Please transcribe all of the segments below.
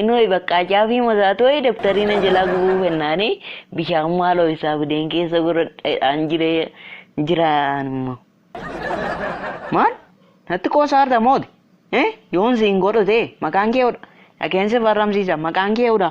Inoi baqqaa caafii masaatoi dabtarii na jalaa gubuu fennaani bishaan maaloo isaa fideen keessa godhadhaan jiree jiraan immoo. Maal? Natti qoosaarta mooti? Eh? Yoon siin godhu ta'e maqaan kee hudha. Dhaqeen si farramsiisa maqaan kee hudha.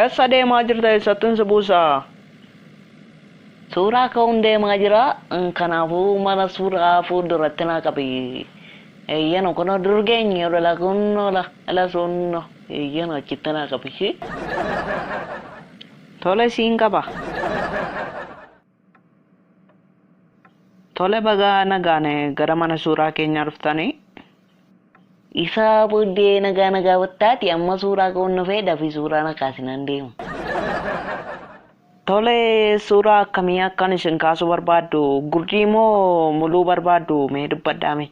Eessa deemaa jirta eessattin si buusaa? Suuraa ka'uun deemaa jira kanaafuu mana suuraa fuulduratti naa qabi. Eeyyeno kunoo dur geenye olola kunno la la suunno eeyyeno achitti naa qabi ishii. Tole siin qaba. Tole bagaa nagaan gara mana suuraa keenyaa dhuftanii. Isaa booddee nagaa nagaa battaati amma suuraa ka'uun dhufee dafii suuraa na kaasinaan deema. Tole suuraa akkamii akkan isin kaasuu barbaaddu gurdii moo muluu barbaaddu mee dubbadhaa mee.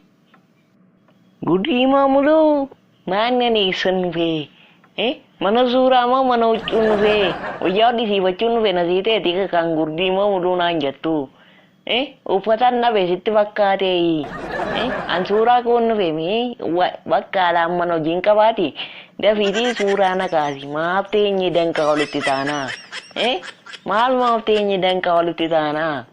Gudii moo muluu maannani issan dhufee eh mana suuraa moo mana huccuun dhufee wayyaa hodhisiifachuun dhufe na siiteeti kan gurdii moo muluu naan jattu eh uffatan dhabe sitti fakkaatee eh an suuraa koon dhufe mee bakka alaan mana hojiin qabaati dafiitii suuraa na kaasi maaf teenye danqaa walitti taanaa eh maal maaf teenye danqaa walitti taanaa